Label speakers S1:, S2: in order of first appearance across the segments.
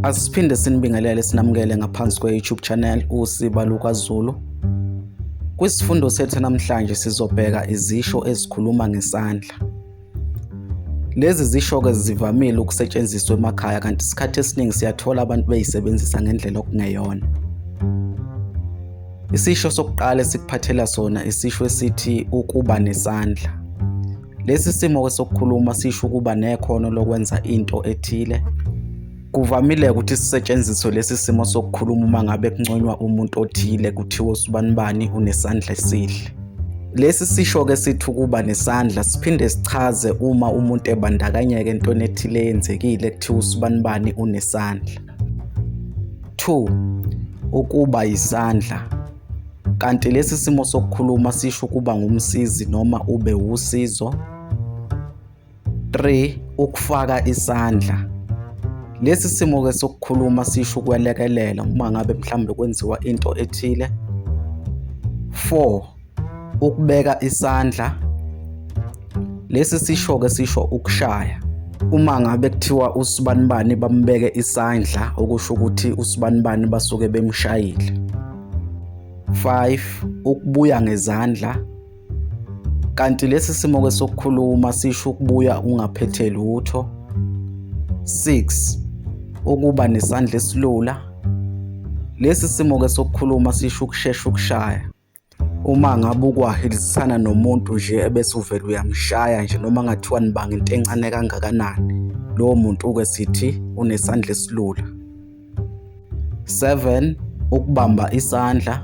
S1: Asiphinde sinibingelele sinamukele ngaphansi kwe-YouTube channel uSiba LukaZulu. Kwisifundo sethu namhlanje sizobheka izisho ezikhuluma ngesandla. Lezi zisho-ke zivamile ukusetshenziswa emakhaya kanti isikhathi esiningi siyathola abantu beyisebenzisa ngendlela okungeyona. Isisho sokuqala esikuphathela sona isisho esithi ukuba nesandla. Lesi simo-ke sokukhuluma sisho ukuba nekhono lokwenza into ethile. Kuvamile ukuthi sisetshenziswe lesi simo sokukhuluma uma ngabe kunconywa umuntu othile kuthiwa usibanibani unesandla esihle. Lesi sisho-ke sithi ukuba nesandla siphinde sichaze uma umuntu ebandakanyeka entweni ethile eyenzekile kuthiwa usibanibani unesandla. 2. Ukuba yisandla Kanti lesi simo sokukhuluma sisho ukuba ngumsizi noma ube wusizo. 3 ukufaka isandla. Lesi simo ke sokukhuluma sisho ukwelekelela uma ngabe mhlawumbe kwenziwa into ethile. 4 ukubeka isandla. Lesi sisho ke sisho ukushaya. uma ngabe kuthiwa usibanibani bambeke isandla okusho ukuthi usibanibani basuke bemshayile 5 ukubuya ngezandla kanti lesi simo ke sokukhuluma sisho ukubuya ungaphethe lutho 6 ukuba nesandla esilula lesi simo ke sokukhuluma sisho ukushesha ukushaya uma ngabe ukwahilizisana nomuntu nje ebese uvele uyamshaya nje noma ngathiwa nibanga into encane kangakanani lowo muntu uke sithi unesandla esilula 7 ukubamba isandla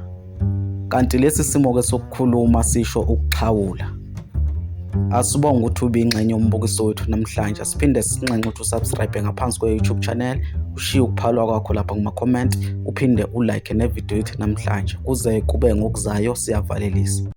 S1: kanti lesi simo ke sokukhuluma sisho ukuxhawula asibonga ukuthi ubingxenye umbukiso wethu namhlanje siphinde sinxenxe ukuthi usubscribe ngaphansi kwe-youtube channel ushiye ukuphalwa kwakho lapha kuma-comment uphinde ulike nevidiyo yethu namhlanje kuze kube ngokuzayo siyavalelisa